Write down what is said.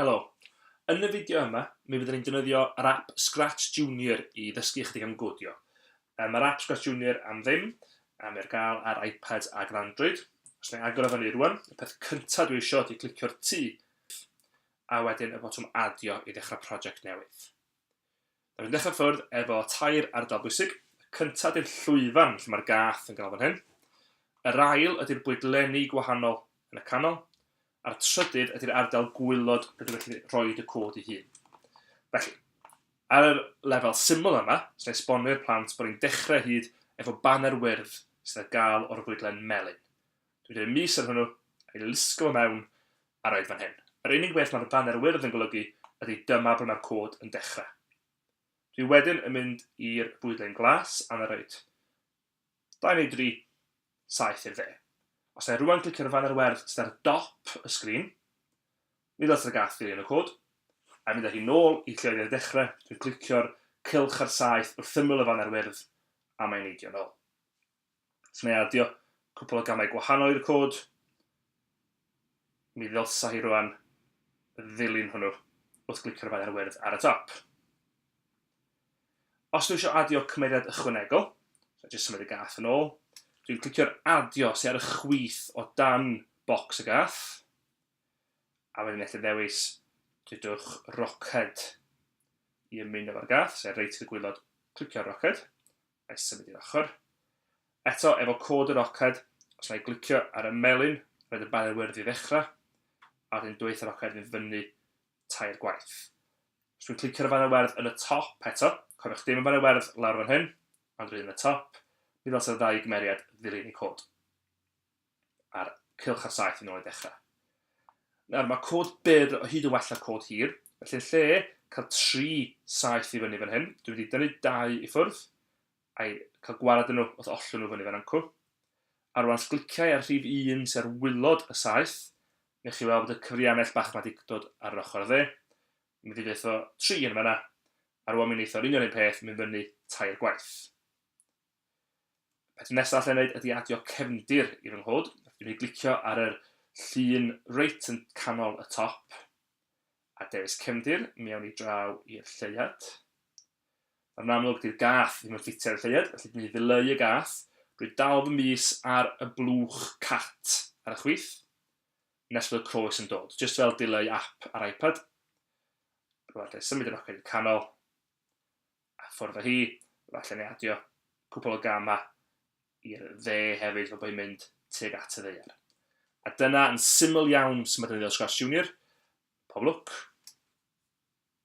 Helo. Yn y fideo yma, mi fydden ni'n defnyddio yr app Scratch Junior i ddysgu ychydig am godio. Yy, Mae'r app Scratch Junior am ddim, a mae ar gael ar iPads ac ar Android. Os na i agor o fyny rwan, y peth cyntaf dwi eisiau ydy clicio'r T, a wedyn y botwm adio i ddechrau prosiect newydd. Rydyn ni'n dechrau ffwrdd efo tair ardal bwysig. Y cyntaf ydy'r llwyfan lle mae'r gath yn ganolfan hyn. Yr ail ydy'r bwydlenni gwahanol yn y canol. A'r trydydd ydy'r ardal gwylod rydw i'n gallu rhoi y cod i hun. Felly, ar yr lefel syml yma, sy'n esbonio i'r plant bod ni'n dechrau hyd efo baner wyrdd sydd ar gael o'r fwydlen melyn. Dwi'n rhoi mis ar hwnnw, a'i lusgo fo mewn, a roid fan hyn. Yr unig beth mae'r baner wyrdd yn golygu ydy dyma ble mae'r cod yn dechrau. Dwi wedyn yn mynd i'r bwydlen glas a na roid 2 neu 3, 7 i'r dde. Os na i rwan glicio'r faner werdd sydd ar dop y sgrin, nid lot ar gath dilyn y cod, a mynd â hi nôl i lle oedd i'r dechrau, dwi'n clicio'r cylch ar saith wrth ymyl y faner wyrdd a mae'n neidio nôl. So mae adio cwpl o gamau gwahanol i'r cod. Mi ddylsa hi rwan ddilyn hwnnw wrth glicio'r faer wyrdd ar y top. Os dwi eisiau adio cymeriad ychwanegol, so jyst symud y gath yn ôl, dwi'n clicio'r adio sy'n ar y chwith o dan bocs y gath, a wedyn eich ddewis dydwch roced i ymuno fo'r gath, sef reit i'r gwylod, clicio'r roced, a i symud i'r ochr. Eto, efo cod yr oced, os na i glicio ar y melyn, roedd y banner wyrdd i ddechrau, a wedyn dweith yr oced fynd fyny tair gwaith. Os dwi'n clicio ar y banner werdd yn y top eto, cofiwch dim y banner werdd lawr fan hyn, ond rydyn yn y top, mi ddylsai'r ddau gymeriad ddilyn i cod. a'r cylch ar saith yn ôl i ddechrau. Nawr, mae cod byr o hyd yn well na cod hir, felly yn lle cael tri saith i fyny fan hyn, dwi'n mynd i dynnu dau i ffwrdd, a'i cael gwared yn nhw wrth ollwng nhw fyny fan anco. A rwan sgliciau ar rhif 1 sy'n ar wylod y saith, neu chi weld bod y cyfrianell bach mae wedi dod ar yr ochr dde. Mae'n mynd i ddeitho tri yn fanna, a rwan mi'n eitho'r union un peth, mynd fyny tair gwaith. Peth nesaf allai wneud ydy adio cefndir i fy nghod. Dwi'n ei glicio ar yr llun reit yn canol y top a dewis cefndir, mi awn ni draw i'r lleiad. Yn amlwg, dy'r gath ddim yn ffitio ar y lleiad, felly dwi'n ei ddileu y gath. Dwi'n dal fy mis ar y blwch cat ar y chwith, nes bod y croes yn dod, jyst fel dileu app ar iPad. Rwy'n allai symud y noced i'r canol, A ffwrdd â hi, falle neu adio cwpl o gamau i'r dde hefyd fel bod hi'n mynd tuag at y ddaear. A dyna yn syml iawn sut mae defnyddio Scratch Junior. Pob lwc!